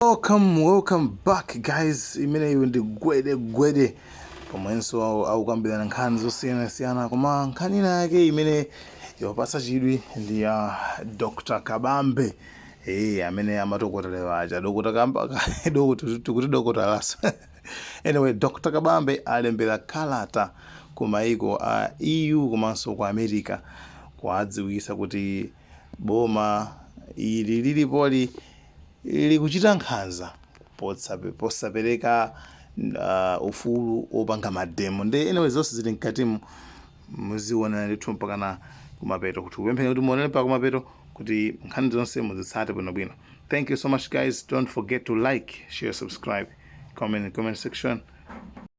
welcome welcome back guys imeneyo ndi gwede gwede pomwenso au- akukambirana nkhani zosiyanasiyana koma nkhani ina yake imene yapasa chidwi ndi ya dr kabambe ee amene amatokotelewa aja dokota kamba dokota- tikuti dokotalaso anyway dr kabambe alembera kalata ku maiko a eu komanso ku america kuwadziwisa kuti Boma ili lilipoli likuchita nkhanza posapereka ufulu wopanga mademo nde anyway zonse zili mkatimu muzionera ndithu mpakana kumapeto kuti kupempheni kuti muonere mpaka kumapeto kuti nkhani zonse muzitsate bwinobwino thank you so much guys don't forget to like share subscribe comment in the comment section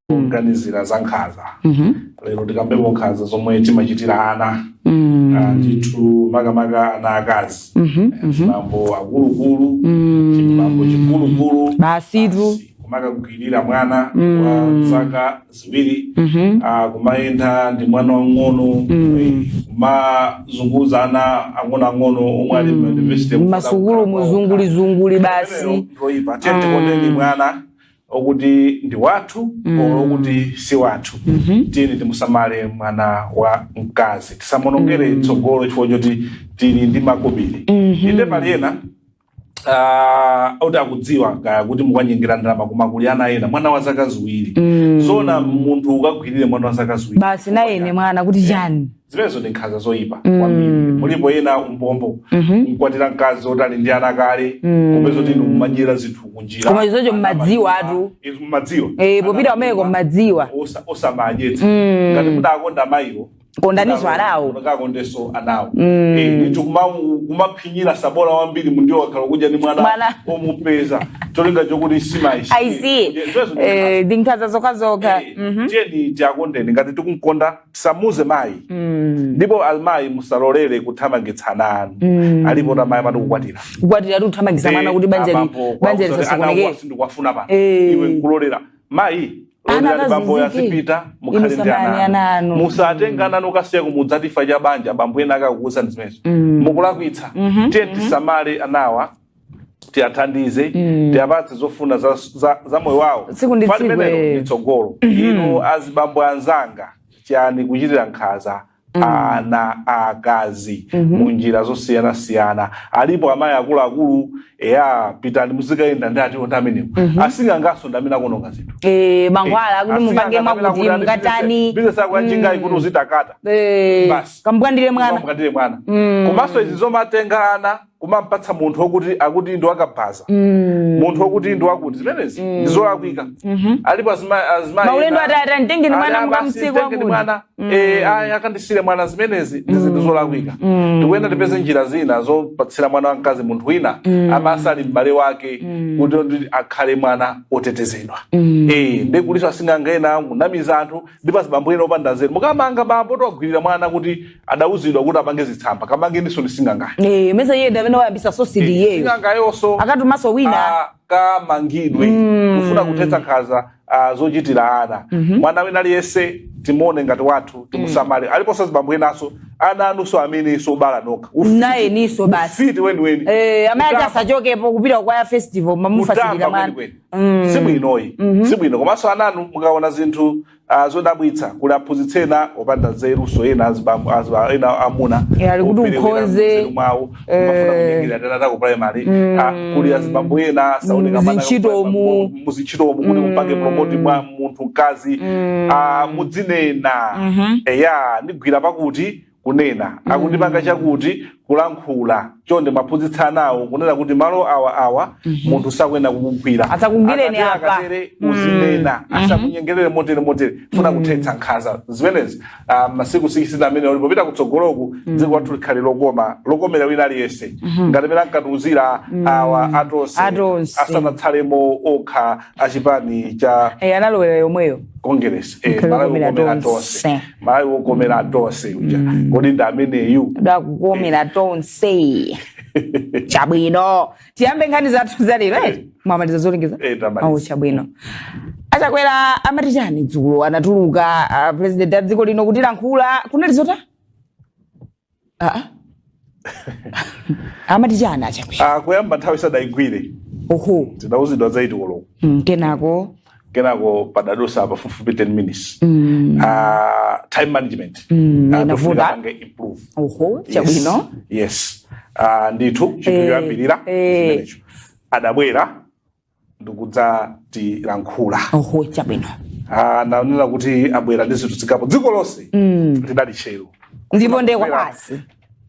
mm. poganizira za nkhaza mm -hmm. lero tikambepo nkhaza zomwe timachitira ana mm. uh, ndithu makamaka ana akazi mm -hmm. azibambo akuluakulu mm. chibambo chikulukulu basitu kumakagwirira mwana mm. wa zaka ziwiri mm -hmm. uh, kumayenda ndi mwana wang'ono mm. kumazunguza ana ang'onoang'ono omwe ali mm. university masukulu muzungulizunguli basi tiye tikondeni mwana okuti ndi wathu Mm. olo okuti si wathu Mhm. tiyeni timusamale mwana wa mkazi tisamuonongere Mm. tsogolo chifukwa choti tili ndi makobiri Mhm. inde pali ena ah, oti akudziwa kuti mukanyengera ndalama koma kuli ana ena mwana wa zaka ziwiri Mm. zoona munthu ukagwirire mwana wa zaka ziwiri basi nayene mwana kuti chani zimenezo ndi nkhanza zoyipa Mm. kwambiri mulipo ena umbombo Mhm. mkwatira mkazi oti ali ndi ana kale Mm. kupeza oti inu mumadyera zinthu kunjira Koma izocho Ana mmadziwa madyera, atu. izo mmadziwa Eh, Ana popita pamene madyera, kommadziwa. osa- osamadyetsa Mm. ngati mudakonda mayiwo Kondaninso anawo. mudakondenso anawo Mm. Eh, ndithu kumamu- kumaphinyira sabola wambiri mundiwo okhala akudya ndi mwana Mwana. womupeza cholinga chokuti simayishi i see Eh, ndi nkhanza zokhazokha Mhm. tiyeni tiakondeni ngati tikumkonda tisamuze mayi mm. ndipo amayi musalolere kuthamangitsa ana anu mm. alipo amayi amati kukwatira kukwatira kuthamangitsa mwana kuti banja banja lisasokonekere sindikuwafuna pano eh. iwe nkulolera mayi bambo azipita mukhale ndi ana anu musatenge ana anu kukasiya kumudzi chifukwa cha banja bambo ena akukuuzani zimenezo mm. mukulakwitsa mm-hmm, tiye mm-hmm. tisamale anawa tiyathandize mm. tiyapatse zofuna za, za, za moyo wawo tsiku ndi tsiku eh. tsogolo mm-hmm. inu azibambo anzanga chani kuchitira nkhaza mm. ana akazi mm -hmm. munjira zosiyana siyana alipo amayi akulu akulu eya pitani muzikayenda nditu ndi amenewo mm -hmm. asing'angaso ndamene akononga zinthu eh mankhwala kuti mupange mwakuti mukatani business yako yachinga mm. kuti uzitakata eh basi kagwirire mwana kagwirire mwana mm. komanso izi zomatenga ana kumamupatsa munthu okuti akuti ndi wakabaza mm. munthu okuti ndi wakuti zimenezi mm. ndizolakwika mm -hmm. alipo azimaulendo atata nditengeni mwana mukamtsiku wakuti mwana mm. e, aya akandisire mwana zimenezi ndi zinthu mm. zolakwika mm. tikuyenera tipeze njira zina zopatsira mwana wamkazi munthu wina mm. amati ali m'bale wake mm. kuti ndi akhale mwana otetezedwa mm. e, ndi kulinso asing'anga ena akunamiza anthu ndipo azibambo ena opanda nzeru mukamanga bambo wogwirira mwana kuti adauzidwa kuti apange zitsamba kamangeninso ndi sing'angayo Eh, mesa iye ndi amene wayambitsa zonsezi iyeyo sing'angayonso akatumanso wina akamangidwe kufuna kuthetsa nkhanza ah, zochitira ana mwana wina aliyense timuone ngati wathu timusamale aliponso azibambo enanso ana anunso amenenso obala nokha Ufiti- naye niso basi ufiti weniweni Eh, amene ati Kutamba- asachokepo kupita kwaya festival mamufasikira kutamba mwana kwenikweni sibwino ayi sibwino komanso ananu mukaona zinthu Ah, zodabwitsa kuli aphunzitsi ena opanda nzerunso ena azibambo aziba- ena amuna Eh, ali kuti operewera ukhoze. nzeru mwawo kumafuna Eh. kunyengera tiana taku primary Ah, kuli azibambo ena saoneka mana- Muzintchitomu. muzintchitomu kuti mupange promote mwa munthu mkazi Ah, mudzinena eya andigwira pakuti kunena akundipanga mm. chakuti kulankhula chonde muwaphunzitse anawo kunena kuti malo awa awa mm -hmm. munthu sakuyenera kukugwira asakugwireni apa mm. uzinena mm. asakunyengerere motere motere funa mm. kuthetsa nkhanza zimenezi ah, masiku sikisite amene alipo kupita kutsogoloku mm. dziko lathu likhale lokoma lokomera wina aliyense mm -hmm. ngati mene ankatiuzira mm. awa atonse asanatsalemo okha achipani cha hey, eh, analowera yomweyo kongeresi eh, malawi lokomera tonse Malawi wokomera tonse uja mm. kodi ndi ameneyu wakukomera tonse chabwino tiyambe nkhani zathu zalero eh? eh. mwamaliza zolengeza eh, oh, chabwino achakwera amati chani dzulo anatuluka uh, president a dziko lino kutilankhula kunali zota aa amati chani achakwera Ah, kuyamba nthawi sadayigwire oho tidawuzidwa za eyiti koloko Mm, kenako kenako padadusa pafupifupi 10 minutes mm, Ah, time management Mm, Ah, inavuta. pofunika apange improve oho Yes, chabwino yes Ah, ndithu chinthu Eh, choyambirira eh. chimenecho adabwera ndikudzatilankhula oho chabwino Ah, ananena kuti abwera ndi zinthu zingapo dziko lonse Mm. lidali tcheru ndipo nde kwabasi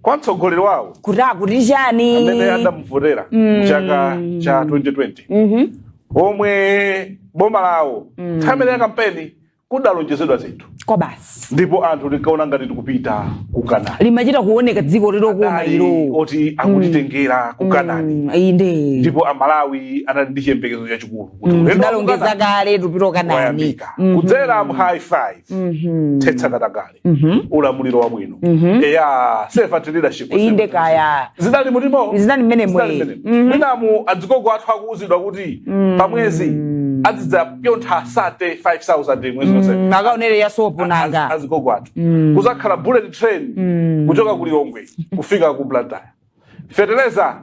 kwa mtsogoleri wawo kuti akuti chani amene adamuvotera mu chaka cha 2020 Mhm. omwe boma lawo nthawi imene ya kampeni kudalonjezedwa zinthu kwabasi ndipo anthu tinkaona ngati tikupita ku kanani limachita kuoneka dziko lokoma Adali ilo loti akutitengera ku kanani Mm, inde ndipo amalawi anali ndi chiyembekezo chachikulu kuti Mm, ulendo wa ku tidalongeza Kanani kale tikupita kanani wayambika kudzera mu high five thetsa katangale Mhm. ulamuliro wabwino Mhm. eya servant leadership inde kaya zidali mutimo Zinali mmenemo, Zinali eh. mmenemo. Mhm. mwinamu azigogo athu akuuzidwa kuti pamwezi azidzapyontha 35000 mwezi wonse Mm, akaonere ya sopo Az- nanga azigogo athu kuzakhala bullet train kuchoka ku lilongwe kufika ku blantyre feteleza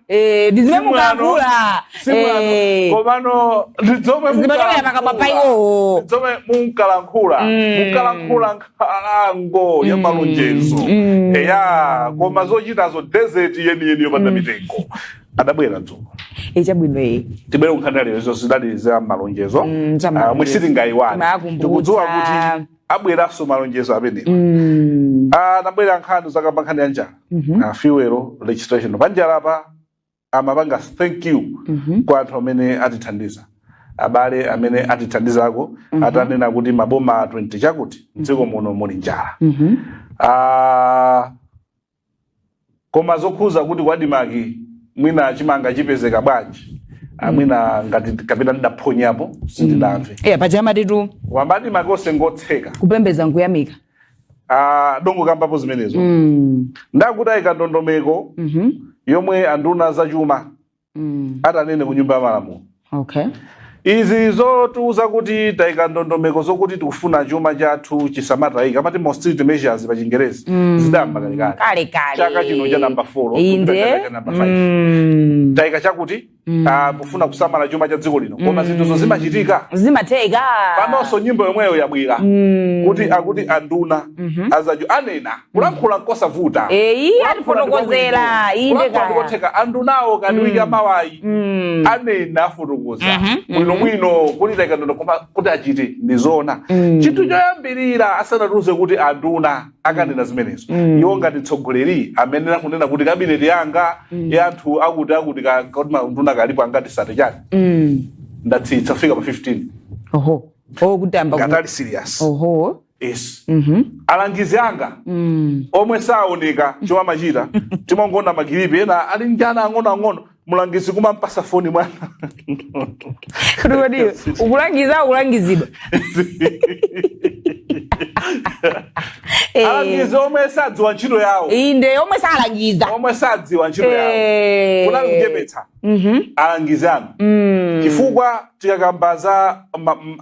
Eh, ndi zimene munkalankhula Eh, komano ndi zomwe zimachokera pakamwa pa iwowo zomwe munkalankhula Mm. munkalankhula nkhalango ya malonjezo Mm. eya koma zochitazo desert yeniyeni yopanda mitengo adabwera dzulo Eh, chabwino eh. tibwere kunkhani ya lero izo zidali za malonjezo Mm, za Ah, malonjezo. zomwe sitingayiwale Timayakumbutsa. tikudziwa kuti abweranso malonjezo amenewa Mm. anabwera nkhani zakamba nkhani ya njala Mhm. na fuel legislation panjalapa amapanga thank you Mhm. kwa anthu amene atithandiza abale amene atithandizako atanena kuti maboma 20 chakuti mdziko muno muli njala Mhm. Ah, koma zokhudza kuti ku admarc mwina chimanga chipezeka bwanji Ah, mwina ngati kapena ndidaphonyapo sindidamve eya paja amatitu wamba timakonda ngotseka kupembeza nkuyamika ah, adangokambapo zimenezo mm. nda kuti ayika ndondomeko Mhm. yomwe anduna zachuma mm. atanene ku nyumba ya malamulo okay. izi zotiuza kuti taika ndondomeko zokuti tikufuna chuma chathu chisamatayika amati austerity measures pa chingerezi mm. zidayamba kalekale chaka chino cha namba 4 namba 5 mm. taika chakuti Mm. Uh, kufuna kusamala chuma cha dziko lino koma mm. zinthuzo zimachitika zimatheka panonso nyimbo yomweyo yabwera mm. kuti akuti anduna mm -hmm. azachuma anena kulankhula nkosavuta eyi Kulankhula atifotokozera ndikobwino. inde Kulankhula kaya ndikotheka andunawo akadziwika amawayi Mm. anena afotokoza Mhm, mhm. bwinobwino kuti taika ndondomeko koma kuti achite ndi zoona Mm. chinthu choyambirira asanatiuze kuti anduna akanena zimenezo Mm. iwo ngati mtsogoleri amene akunena kuti kabineti yanga ya anthu akuti akuti ka- kuti manduna alipo angati sate chani Mm. ndatsitsa kufika pa 15 oho oho kuyamba ku- ngati ali serious oho Yes. Mhm. alangizi anga Mm. omwe saoneka chomwe amachita timangoona makilipi ena ali ndi ana ang'onoang'ono mlangizi kumampatsa foni mwana Kuti kodi iwe ukulangiza ukulangizidwa. Eh, alangizi omwe sadziwa ntchito yawo Inde omwe salangiza. omwe sadziwa ntchito yawo Eh. kunali kuchepetsa Mhm. alangizi anu Mm. chifukwa tikakamba za ma- m-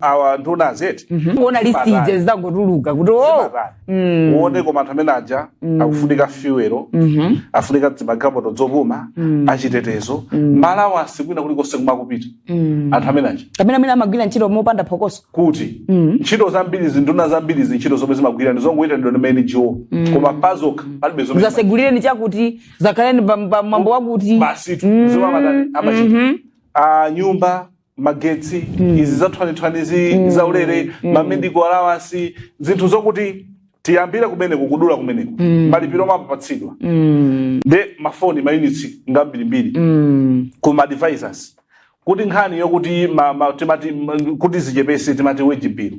awa nduna azati kuona listi zizangotuluka kuti o Mm. uone koma anthu amene aja akufunika fuelo Mhm. akufunika zimagalimoto dzopuma achitetezo ma allowance kwina kulikonse kumakupita Mm. anthu amene aja kapena amene amagwira ntchito mopanda phokoso kuti Mm. ntchito zambiri nduna zambiri ntchito zomwe zimagwira ndi zongoitanidwa ndi mango koma pazokha palibe zomwe zasegulireni chakuti zakhaleni pa- pa mwambo wakuti basitu zomwe amadani amachita Mhm. a nyumba magetsi izi zathwanithwanizi zaulere mamedical allowance zinthu zokuti tiyambire kumeneko kudula kumeneko malipiro omwe amapatsidwa nde mafoni mayunitsi ngambirimbiri kuma advisors kuti nkhani yokuti ma- ma- timati m- kuti zichepese timati wage bill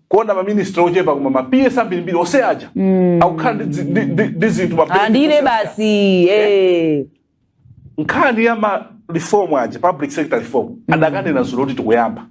kuona ma minister ochepa koma ma PS ambirimbiri ose aja mm. akukhala ndi dzi- ndi- ndi- ndi zinthu ma benefits amalandira ose aja. basi eh. nkhani ya ma reform aja public sector reform adakanena dzulo kuti tikuyamba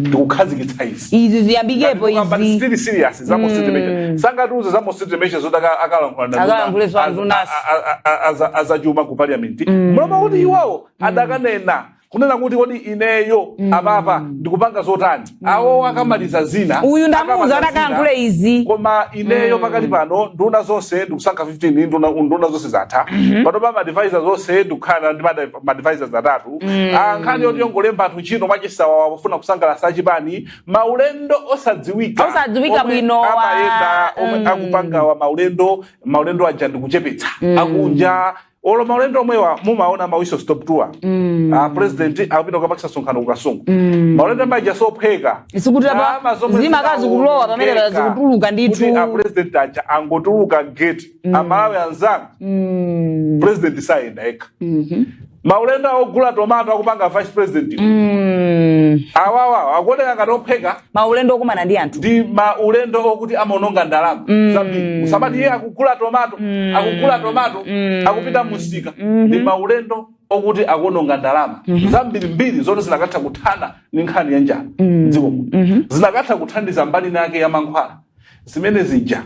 tikukhazikitsa izi izi ziyambikepo izi zili serious za austerity measure sangatiuze za austerity measure zoti aka- akalankhula na nduna, Akalankhule za az- ndunasi. a- a- a- aza- azachuma ku parliament m'mawa kuti iwawo adakanena kunena kuti kodi ineyo mm. apapa ndikupanga zotani mm. awo akamaliza zina uyu ndamuuza akalankhule izi koma ineyo mm. pakali pano nduna zonse ndikusankha 15 nduna, nduna zonse zatha mm -hmm. panopa ma advisors onse ndikukhala ndi ma advisors atatu mm. Ah, nkhani yoti yongolemba anthu ntchito mwachisawawa pofuna kusangalatsa achipani maulendo osadziwika osadziwika bwino amayenda omwe mm. akupangawa maulendo maulendo aja ndikuchepetsa mm. akunja olo maulendo omwewa mumaona ma whistle stop tour Mm. a president akupita kukapangitsa msonkhano ku kasungu Mm. maulendo aja sophweka Zikuti apa- Ndalama zomwe zimakazi zinaonongeka kulowa pamene pa- zikutuluka ndithu. kuti a president aja angotuluka gate amalawi anzanga Mm. president sayenda yekha Mhm. maulendo ogula tomato akupanga vice president Mm. awawa akuoneka ngati ophweka maulendo okumana ndi anthu ndi maulendo okuti amaononga ndalama mm. zambiri musamati iye akugula tomato mm. akugula tomato mm. akupita musika mm -hmm. ndi maulendo okuti akuononga ndalama mm -hmm. zambirimbiri zoti zinakatha kuthana ndi nkhani ya njala mm. mdziko mm -hmm. zinakatha kuthandiza mbali yake ya mankhwala zimene zija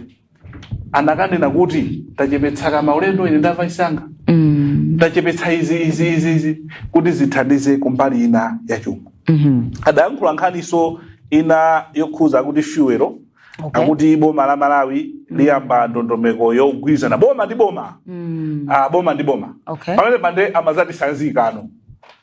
anakanena kuti ndachepetsako maulendo ine ndi vice wanga Mm. ndachepetsa izi izi izi izi kuti zithandize kumbali ina ya chuma Mhm. adayankhula nkhaninso ina yokhuza kuti fuelo Okay. akuti boma la malawi liyamba ndondomeko yogwirizana boma ndi boma Mm. ah, boma ndi boma Okay. pamene pande amazatisanzikano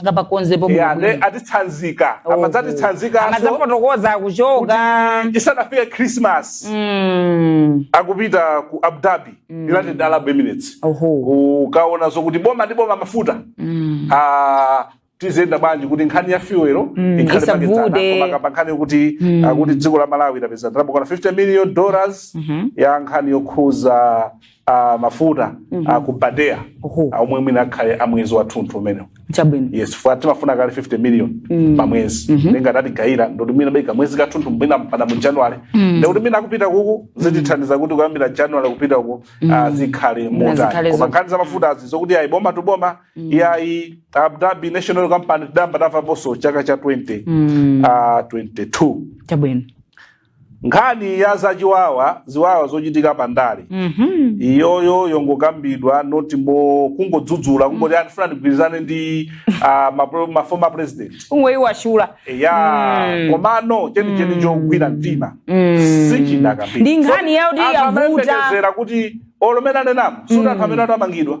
akapakonzepo Yeah, bwino nde bwino. atitsanzika Oho. amadzatitsanzikanso amadzafotokoza akuchoka isanafike christmas Mm. akupita ku abu dhabi united arab emirates oho kukaona zokuti boma ndi boma mafuta Mm. Ah, tiziyenda bwanji kuti nkhani ya fuelo Mm, ikhale isavute. pakedzana komanso akamba nkhani yokuti Mm. akuti dziko la malawi lapeza ndalama zokwana 50 million dollars Mhm. ya nkhani yokhuza a mafuta a ku badea Oho. a omwe mwina akhale a mwezi wathunthu umenewo chabwino yes fuka timafuna kale 50 million pa mwezi ngati atigayira ndikuti mwina penake mwezi wathunthu mwina mpaka mu january ndikuti mwina kupita uku zitithandiza kuti kuyambira january kupita uku ah, zikhale zikhale motani zo- koma nkhani za mafuta azi zokuti ayi boma tu boma iyayi abu dhabi national company tidayamba tamvaponso chaka cha 20 ah, 22 chabwino nkhani ya zachiwawa ziwawa zochitika pa ndale Mhm. iyoyo yongokambidwa not mmo kungodzudzula kungoti ndikufuna ndigwirizane ndi ah, ma pro- ma former president kungoyiwazula ya Mm. komano chenicheni chogwira mtima Mm. sichinakambidwa Ndi nkhani yakuti yavuta. amayembekezera kuti olo munenemo zoti anthu amene anamangidwa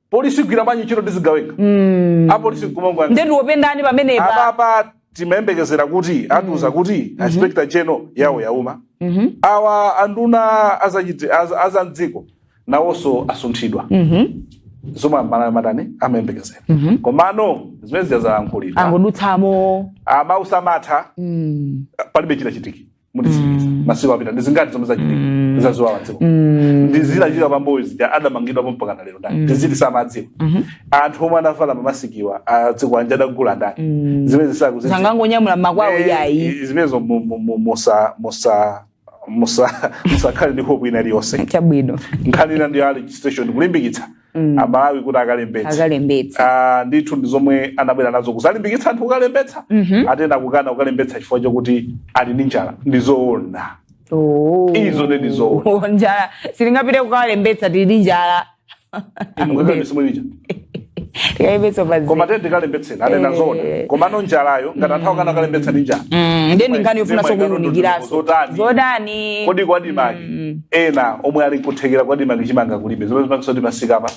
polisi igwira bwanji ntchito ndi zigawenga mm. apolisi nkumangoona nde tiwapendani pamenepa apapa timayembekezera kuti atiuza mm. kuti mm-hmm. inspector general yawo yauma mm-hmm. awa anduna azamdziko nawonso asunthidwa mm-hmm. zomwe amalawi mwatani amayembekezera komano zimenezi azalankhulira angodutsamo mosamatha mm. palibe chitachitike mutiziliza Mm. masiku apita ndi zingati zomwe zachitika Mm. zaziwawa dziko Mm. ndizo zachitika pambuyo zija adamangidwapo mpaka na lero ndani Mm. ndithudi samadziwa Mhm. anthu omwe anavala mamasikiwa zikwanje adagula ndani Mm. zimenezi akuzidziwa sangangonyamula makwao yayi zimenezo mu- mu- mu- musa musa musa musakhale ndi hope ina iliyonse chabwino nkhani ina ndi ya registration kulimbikitsa mm. amalawi kuti akalembetse akalembetse ah, ndithu ndi zomwe anabwera nazo kuzalimbikitsa anthu kukalembetsa mm -hmm. anthu ena akukana kukalembetsa chifukwa chokuti ali ndi njala ndi zoona oh. izo ndi zoona oh, njala sitingapite kukalembetsa tili ndi njala koma tiyeni kalembetseni anena eh. zoona komano njalayo ngati anthu akana kukalembetsa ndi njala mm, ndiye ndi nkhani yofunanso kuiunikiranso zotani kodi ku admarc mm. ena omwe ali nkuthekera ku admarc chimanga kulibe zomwe zimapangitsa kuti mmisikamu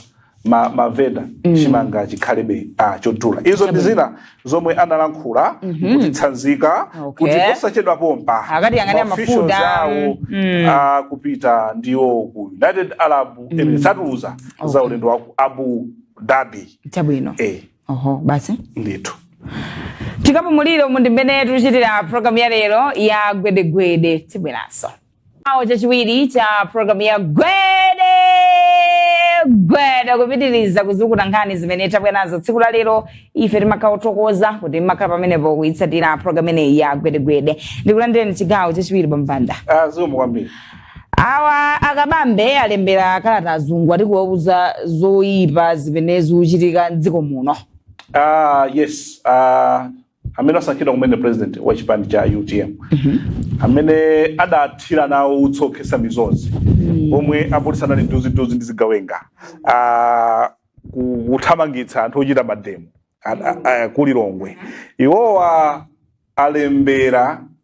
ma, mavenda mm. chimanga chikhalebe ah, chodula izo ndi zina zomwe analankhula mm -hmm. kutitsanzika okay. kuti posachedwa pompa akatiyang'anira mafuta awo mm. ah, akupita ndiwo ku united arab mm. emirates atiuza okay. za ulendo wa ku abu dhabi chabwino eh. oho basi ndithu tikapumulira umu ndi mmene tikuchitira programu ya lero ya gwedegwede tibweranso awo chachiwiri cha programu ya gwede gwede kupitiriza kuzukuta nkhani zimene tabwera nazo tsiku la lero ife timakhala othokoza kuti mmakhala pamenepo kuyitsatira programu imeneyi ya gwedegwede ndikulandireni chigawo chachiwiri bwana Banda Ah, zikomo kwambiri awa a Kabambe alembera kalata azungu ati kuwauza zoyipa zimene zikuchitika mdziko muno Ah, yes ah, amene asankhidwa kumene president wa chipani cha utm amene adathira nawo utsi okhetsa misozi pomwe apolisi anali nduzinduzi ndi zigawenga ah, ku- kuthamangitsa anthu ochita mademo a- a- a- ku Lilongwe iwowa alembera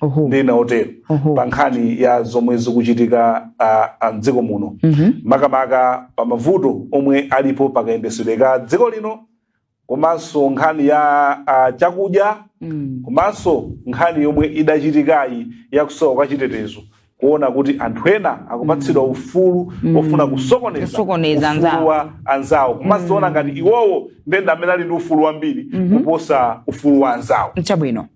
Oho. ndi ena otero Oho. pa nkhani ya zomwe zikuchitika ah, ah, mdziko muno Mhm. makamaka pa mavuto omwe alipo pakayendetsedwe ka dziko lino komanso nkhani ya ah, chakudya Mm. komanso nkhani yomwe idachitikayi yakusowa kwa chitetezo kuona kuti anthu ena akupatsidwa ufulu ofuna kusokoneza Kusokoneza ufulu anzawo. wa anzawo komanso kuona ngati iwowo ndi amene ali ndi ufulu wambiri kuposa ufulu wa anzawo Chabwino.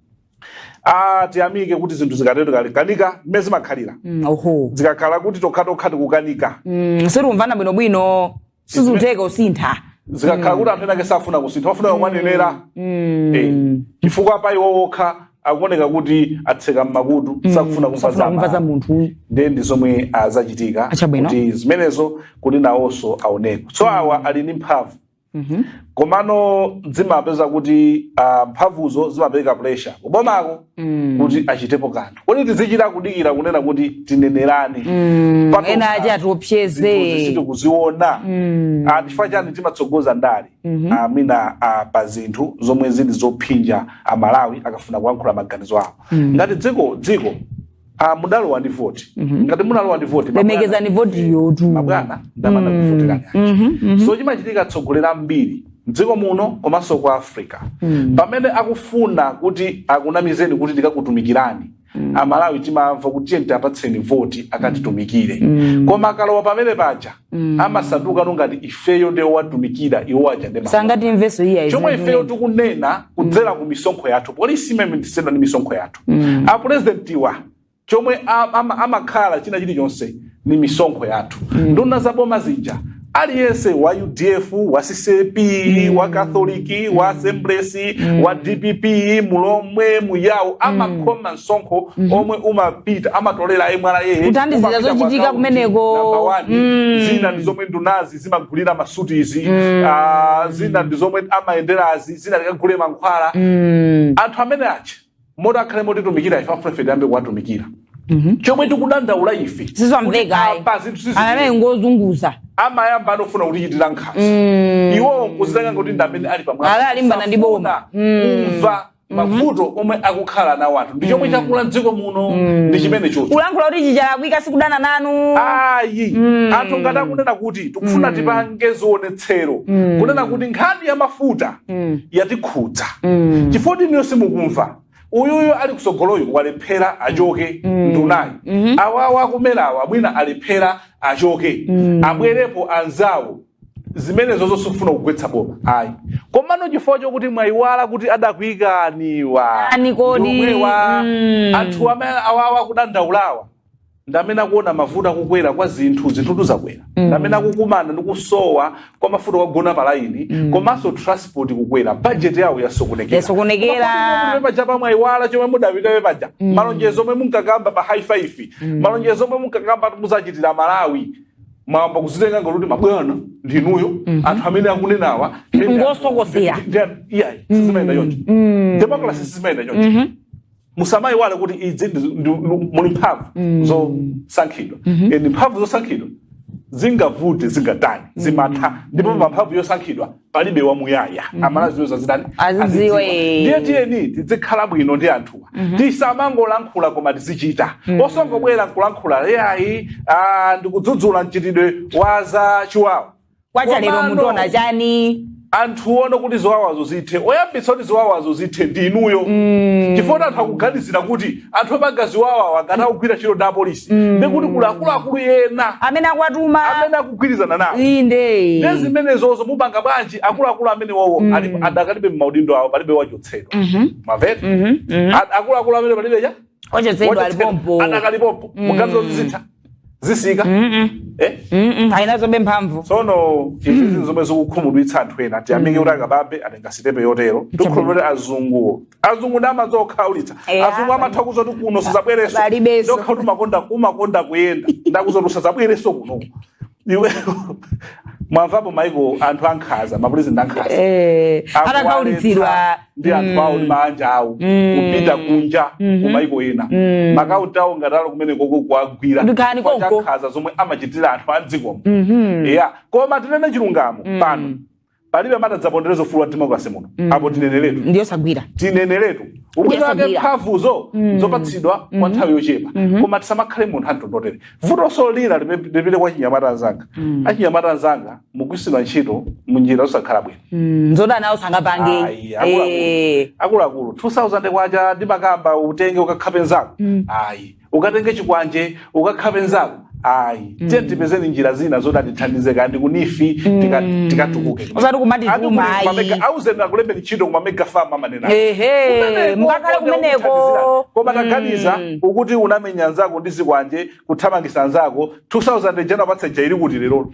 ah tiyamike kuti zinthu zikatero zikakanika ndi mmene zimakhalira Mm, oho zikakhala kuti tokhatokha tikukanika Mm, sitikumvana bwinobwino sizikutheka kusintha zikakhala kuti anthu enake safuna kusintha wafuna akawanenera Eh, chifukwa pa iwo okha akuoneka kuti atseka mmakutu sakufuna kumva safuna kumva za munthu nde ndi zomwe zachitika Chabwino. kuti zimenezo kuti nawonso aoneko so awa ali ndi mphamvu Mhm. komano timapeza kuti ah, mphamvuzo zimapereka pressure kubomako Mm. kuti achitepo kanthu kodi tizichita kudikira kunena kuti tinenerane Mm. Patokha. ena aja zinthuzi atiopseze sitikuziona Mm. Ah, chifukwa chani timatsogoza ndale Mhm. Ah, mwina ah, pa zinthu zomwe zili zophinja amalawi akafuna kuyankhula maganizo awo Mm. ngati dziko dziko Ah, mudalowa ndi voti mhm. ngati munalowa ndi voti lemekezani voti yo kuti mabwana ndi amene ana mm. kuvoterani mhm, mhm. so chimachitika atsogoleri ambiri mdziko muno komanso ku africa mm. pamene akufuna kuti akunamizeni kuti tikakutumikirani mm. amalawi timamva kuti tiye tiapatseni voti akatitumikire mm. koma akalowa pamene paja mm. amasanduka no ngati ifeyo nde owatumikira iwo aja nde chomwe ifeyo tikunena kudzera mm. ku misonkho yathu polisi imene ndi misonkho yathu mm. apurezidentiwa chomwe amakhala china chilichonse ni misonkho yathu mm. nduna za boma zija aliyense wa udf wa ccap mm. wa katholiki mm. wa assemblies mm. wa dpp mulomwe muyawo mm. amakhoma msonkho mm. omwe umapita amatolera mra kuthandizira zochitika kumeneko mm. zina ndi zomwe ndunazi zimagulira masutizi mm. uh, zina ndi zomwe amayenderazi zina likagule mankhwala mm. anthu amene achi moti akhale motitumikira ife afuna ife tiyambe kuwatumikira chomwe tikudandaula ife kuti sizikumveka ayi apa zinthu siziti- ndi amene ngozunguza amayamba ndi ofuna kutichitira nkhanza iwowo nkuzitenga kuti ndi amene ali pamwamba. Ala alimbana ndi boma. Safuna kumva mavuto omwe akukhala nawo anthu ndi chomwe chakula mdziko muno ndi chimenechocho kulankhula kuti ichi chalakwika sikudana nanu ayi anthu ngati akunena kuti tikufuna tipange zionetsero kunena kuti nkhani ya mafuta Mm. yatikhudza Mm. chifukwa kuti inuyo simukumva uyuyo ali kutsogoloyo walephera achoke nduna iyi Mhm. awawa a ku MERA-wa mwina alephera achoke abwerepo anzawo zimenezozo sikufuna kugwetsa boma ayi komano chifukwa chokuti mwayiwala kuti adakuikaniwa Ani kodi? Ndiomwewa. Mm. anthu amene awawa kudandaulawa ndamene akuona mavuto akukwera kwa zinthu zinthu zakwera mm. ndamene akukumana ndi kusowa kwa mafuta akugona palaini mm. komanso transport kukwera bajeti yawo yasokonekera yasokonekera paja pa mwayiwala chomwe mudapitira paja mm. malonjezo omwe munkakamba pa high five mm. malonjezo omwe munkakamba muzachitira aMalawi mwayamba kuzitenga ngati kuti mabwana ndinuyo mm -hmm. anthu amene akunenawa ngosokosera iyayi sizimayenda choncho mm. democracy sizimayenda choncho mm-hmm. musamayiwale kuti izi ndi- ndi- ndi- muli mphamvu zosankhidwa and mphamvu zosankhidwa zingavute zingatani zimatha ndipo pa mphamvu yosankhidwa palibe wamuyaya amayenera azidziwa zitani Azidziwe. azidziwa. ndiye tiyeni tizikhala bwino ndi anthuwa tisamangolankhula koma tizichita osangobwera nkulankhula iyayi ah, ndikudzudzula mchitidwe wa za chiwawa kwacha lero Komano. mutionetsa chani anthu aone kuti ziwawazo zithe oyambitsa kuti ziwawazo zithe ndi inuyo chifukwa anthu akuganizira kuti anthu opanga ziwawawa ngati akugwira ntchito ndi apolisi ndiye kuti kuli akuluakulu ena amene akuwatuma amene akugwirizana nawo inde ndi zimenezozo mupanga bwanji akuluakulu amenewowo ali- adakalibe m'maudindo awo palibe wachotsedwa mwamvatu akuluakulu amene palibe cha Ochotsedwa ali pompo. adakali pompo mukuganiza zitha zisinthika Eh? Mm-mm, ali nazobe mphamvu tsono izi zinthu zomwe zikukhumudwitsa anthu ena tiyamike kuti a Kabambe atenga sitepe yotero tikhulupirira azunguwo azungu ndi amadziwa kukhaulitsa Eya. azungu amatha kukuuza kuti kuno suzabweranso Palibenso. ndawona kuti umakonda umakonda kuyenda ndikukuuza kuti usazabwerenso kuno iwe mwamvapo maiko anthu ankhanza mapulezidenti ankhanza Eh, Akuwaletsa. atakhaulitsidwa ndi anthu Mm. awo ndi maanja awo Mm. kupita kunja Mhm. kumaiko ena Mm. maakaunti awo ngati ali kumenekoko kuwagwira Ndikani chifukwa cha konko. nkhanza zomwe amachitira anthu a mdzikomo Mhm. eya koma tinene chilungamo Mm. pano palibe amene adzapondereza ufulu wa democracy muno Mm. apo tineneretu ndiyosagwira tineneretu ubwino Yes, wake agwira. mphamvuzo Mm. nzopatsidwa kwa Mhm. nthawi yochepa Mhm. koma tisamakhale monga anthu otere vutonso lina lipite kwa achinyamata anzanga Mm. achinyamata anzanga mugwisidwa ntchito munjira zosakhala bwino Mm, nzodana nawo sangapange Ayi, Eh, akuluakulu. akuluakulu 2000 kwacha ndimakamba utenge ukakhape nzako Mm. ayi ukatenge chikwanje ukakhape nzako ayi tiye tipezeni njira zina zoti zitithandize kaya ndi kunifi tika- tikatukuke Osati kumati Ati kuma, kuli kumamega- ayi. auzeni akulembe ntchito kumamega farm amanena ehe Kumeneko, mukakhale kumeneko akuthandizira. koma taganiza Mm. ukuti ukamenya nzako ndi zikwanje kuthamangisa nzako 2000 jana patsa jairi kuti lero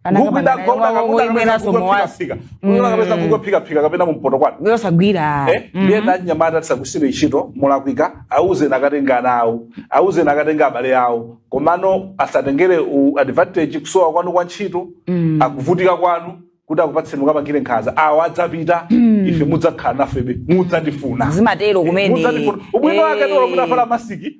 anakapanga nayo mwa- mwa- ibweranso muwazi kapeza kukophikaphika kapena kumpoto kwanu yosagwira Eh, ndiye anyamata tisagwiritsidwe ntchito molakwika auzeni akatenge ana awo auzeni akatenge abale awo komano asatengere u- advantage kusowa kwanu kwa ntchito ndi kuvutika kwanu kuti akupatseni mukapangire nkhanza awo adzapita ife mudzakhala nafebe mudzatifuna zimatero kumene mudzandifuna ubwino wake Eh. ndiwo kuti afala masiki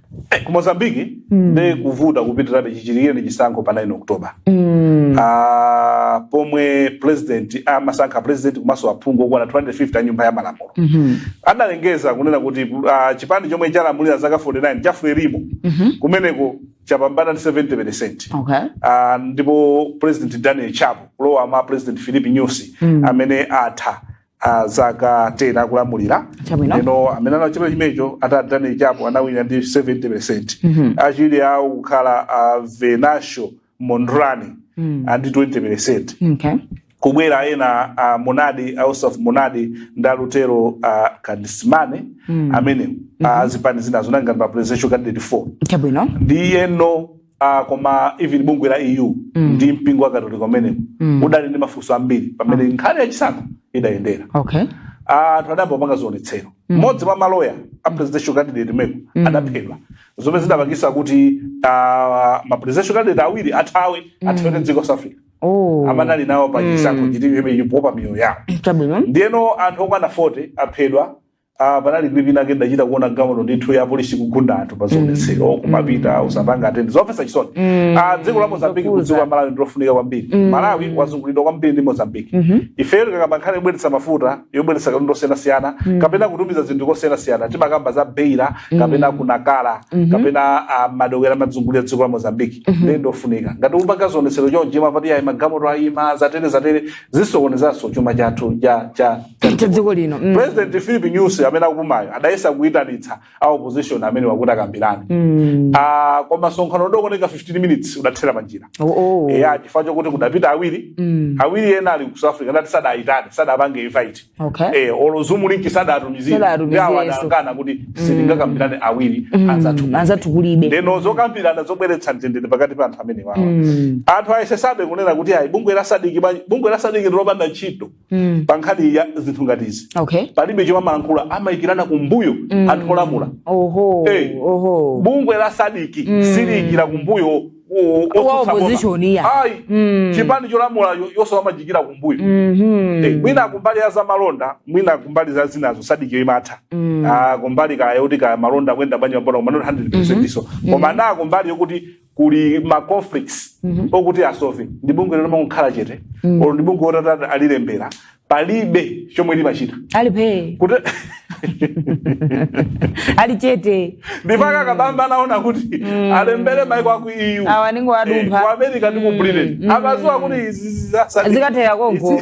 Eh, ku mozambique nde kukuvuta kupitirabe chichitikireni chisankho pa 9 oktoba Ah, pomwe president amasankha president komanso aphungu okwana 250 a nyumba ya malamulo adalengeza kunena kuti ah, chipani chomwe chalamulira zaka 49 cha frelimo kumeneko chapambana ndi 70 percent Okay. Ah, ndipo president daniel chapo kulowa m'malo mwa president filipe nyusi amene atha a zaka 10 akulamulira Chabwino. eno amene ali chipani chimenecho a daniel chapo anawina ndi 70 percent achiwiri awo kukhala a venancio mondlane ndi 20 percent okay. kubwera ena a momade a ossufo momade ndi a lutero a kadisimane amene a zipani zinazo anali ngati ma presidential candidate 4 chabwino ndiyeno Ah, koma even bungwe la eu Mm. ndi mpingo wa katolika umene Mm. udali ndi mafunso ambiri pa mmene nkhani ya chisankho idayendera okay Ah, anthu adayamba kupanga zionetsero mmodzi mwa maloya a presidential candidate mmeneko adaphedwa zomwe zidapangisa kuti ah, ma presidential candidate awiri athawe athawire dziko la south africa oh amene anali nawo pa chisankho chimenechi kuopa miyoyo yawo chabwino ndiyeno anthu okwana 40 aphedwa Ah, panali clip inayake ndachita kuona galimoto ndithu ya polisi kugunda anthu pa zionetsero kumapita osapanga attend zomvetsa chisoni Ah, dziko la mozambiki kudziko la malawi ndilofunika kwambiri malawi wazungulidwa kwambiri ndi mozambiki ifeyo tikakamba nkhani yobweretsa mafuta yobweretsa katundu osiyanasiyana kapena kutumiza zinthu kosiyanasiyana timakamba za beira kapena kunakala kapena ah, madoko ena amazungulira dziko la mozambiki ndiye ndofunika ngati akupanga zionetsero chonchi mapati ayi magalimoto ayima zatere zatere zisokonezanso chuma chathu cha cha cha dziko lino mm. president philip nyusi amene akupumayu adayesa kuyitanitsa a opposition amenewa kuti akambirane mm. uh, koma msonkhano udangotenga 15 minutes udathera panjira oh, oh. eya chifukwa chokuti kudapita awiri mm. awiri ena ali ku south africa akuti sadayitane sadapange invite okay. eh, olo zoom link sadatumizire Sadatumizirenso. awo adakana kuti sitingakambirane awiri anzathu anzathu kulibe ndeno zokambirana zobweretsa mtendere pakati pa anthu amenewawa anthu ayesesabe kunena kuti ayi bungwe la SADC bwanji- bungwe la SADC ndilopanda ntchito mm. pa nkhani ya zinthu ngati izi okay. palibe chomwe amalankhula amayikirana kumbuyo mm. anthu olamula oho, hey, eh, oho. bungwe la SADC mm. siliyikira kumbuyo ayi mm. chipani cholamula iwowa amachiikira kumbuyo mm -hmm. hey, eh, mwina kumbali ya za malonda mwina kumbali za zinazo SADC imatha mm. ah, kumbali kaya kuti kaya malonda akuyenda bwanji ma border kumanoti 100 percent mm-hmm. iso mm. koma mm. naa kumbali yokuti kuli ma conflicts mhm. okuti asove ndi bungwe lomangokhala chete mm. olo ndi bungwelo atati alilembera palibe chomwe limachita alipe kuti ali chete ndipo a mm. kabamba anaona kuti mm. alembere maiko aku EU awa n'kungo wadumpha eh, ku America ndi ku mm. Britain mm. amadziwa kuti izi zikatera konko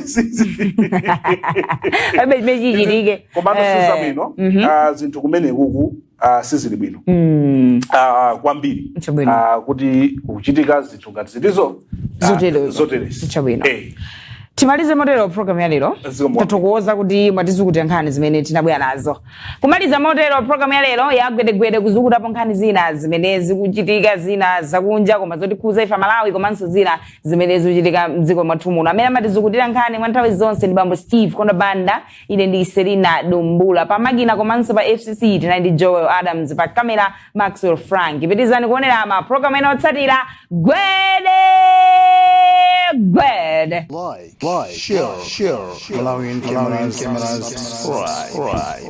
abe mechi chirike koma sizabwino eh. mm-hmm. ah, zinthu kumene kuku ah, sizili bwino Mm. ah, kwambiri Chabwino. ah, kuti kuchitika zinthu ngati zimenezo ah, Zoterezo. zoterezi. Chabwino. Eh, timalize motero programu ya lero Zikomo. tathokoza kuti mwatizukutira nkhani zimene tinabwera nazo kumaliza motero programu ya lero yagwedegwede kuzukutapo nkhani zina zimene zikuchitika zina zakunja koma zotikhuza ife amalawi komanso zina zimene zikuchitika mdziko mwathu muno amene amatizukutira nkhani mwa nthawi zonse ndi bambo steve kondabanda ine ndi selina dumbula pamakina komanso pa fcc tinali ndi joel adams pa kamera maxwell frank pitirizani kuonera mapulogalamu ena otsatira gwedegwede Like, like, share, share, Malawian cameras, cameras, subscribe.